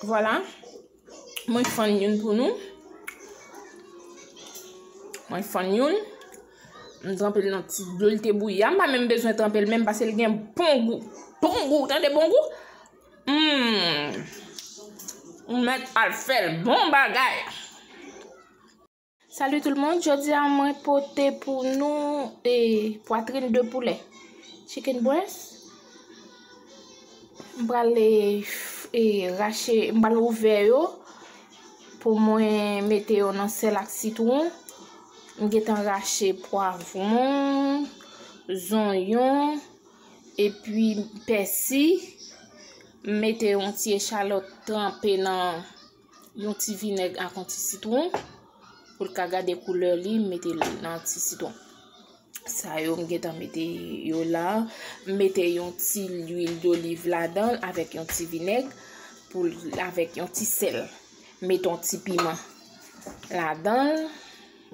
Vwala, mwen fann youn pou nou. Mwen fann youn. Mwen tranpe l nan ti dlo l te bouyi a. Mwen pa menm bezwen tranpe l menm pase l gen bon gou. Bon gou, ou tande bon gou? Mmm. Ou mèt al fè l. Bon bagay. Salut tout le monde, jodi a mwen pote pou nou e poitrine de poulet, chicken breast. M pral e rache, m pral ouvè yo pou mwen mete yo nan sel ak sitron. M gentan rache poivron, zonyon e pi pèsi. M mete yon ti echalot tranpe nan yon ti vinèg ak yon ti sitwon pou l ka gade koulè li m mete nan ti sitwon sa yo m gen tan mete yo la m mete yon ti lwil doliv ladan l avèk yon ti vinèg pou avèk yon ti sèl m mete yon ti piman ladan l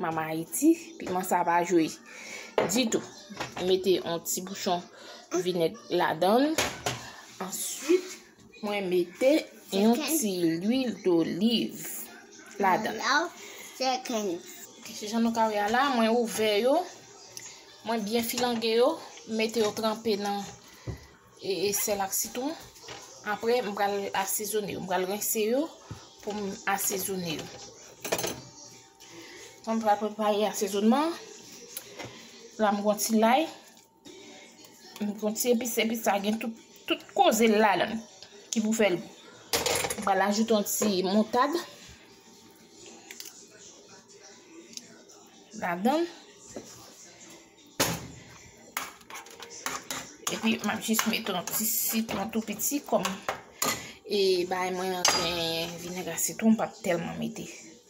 mama iti piman sa pa jwe ditou m mete yon ti bouchon vinèg ladan l answit Mwen mete yon ti lwil doliv ladan. Se jan nou ka wè la, mwen ouvè yo. Mwen byen filange yo, mete yo tranpe nan e, e sèl ak sitron. Apre m pral asezone yo, m pral rense yo pou m asezone yo. Mwen pral prepare asezonman. La m gon ti lay. M pran ti epis, epis sa gen tout koze l ladan ki pou fè l gou. M pral ajoute yon ti moutad ladan l. Epi m ap jis mete yon ti sitwon tou piti kòm e bay mwen yon ten vinèg a sitwon m pa tèlman mete.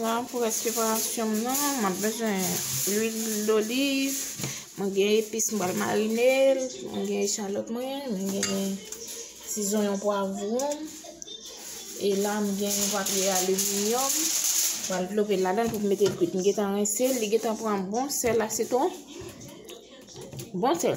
La pou rès preparasyon m nan, m ap bezwen lwil doliv, mwen gen epis m pral marine l, mwen gen echalòt mwen, mwen gen ti zonyon pwavwon, e la m gen papye aliminyòm, m pral dlope l ladan l pou m mete l kwit. M gentan rense l, li gentan pran bon sèl asitwon, bon sèl.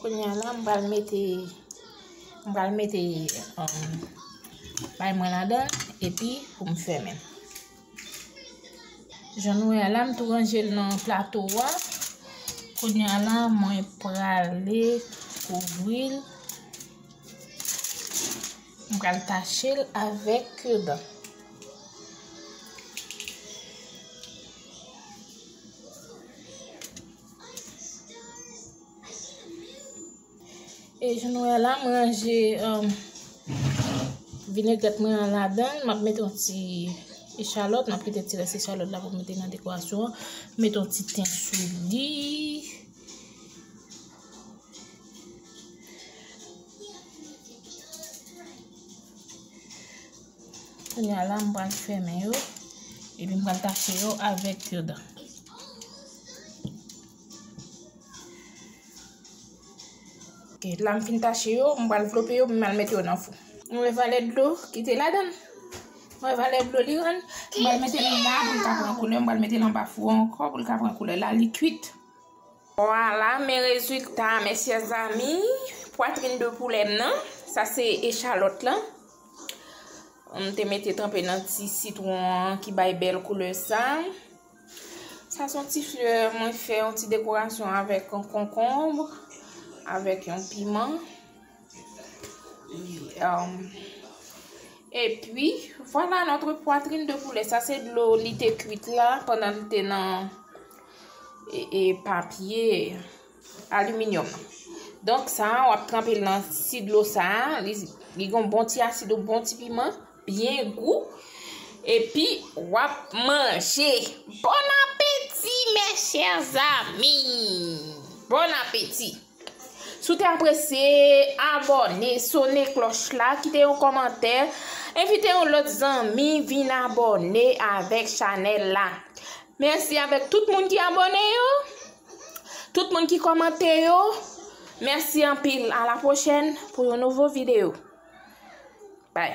Kounya la m pral mete, m pral mete pay mwen ladan l epi pou m fèmen. Jan nou wè la m tou ranje l nan plato a. Kounya la mwen prale kouvri l. M pral tache l avèk kir dan. E jan nou wè la m ranje vinègèt mwen an ladan, m ap mete yon ti echalòt, m ap kite ti rès echalòt la pou m mete nan dekorasyon an, m mete yon ti ten sou li. Kounye a la m pral fèmen yo epi m pral tache yo avèk kir dan. Ok, la m fin tache yo, m pral vlope yo, m al mete yo nan fou. M wè valè dlo ki te ladan l. M wè valè dlo li rann. M pral mete li la pou l ka pran koulè, m pral mete l anba fou an ankò pou l ka pran koulè. La li kuit. Vwala men rezilta a mes chers amis. Pwatrin de poulè m nan. Sa se echalòt lan. M te mete tranpe nan ti sitwon an ki bay bèl koulè sa. Sa son ti flè mwen fè yon ti dekorasyon avèk yon konkonbre, avèk yon piman. E pi, vwala notre pwatrin de poulè. Sa se dlo li te kwit la pandan li te nan papye. Aluminium. Donk sa a wap tranpe l nan ti dlo sa a, li gon bon ti asid ou bon ti piman, byen gou. Epi wap manje. Bon apeti mè chè zami. Bon apeti. Sou te apresye, abone, sone kloch la, kite yon komante, envite yon lot zami vin abone avek chanel la. Mèsi avek tout moun ki abone yo. Tout moun ki kòmante yo, mèsi anpil. A la pwochèn pou yon nouvo videyo. Bye.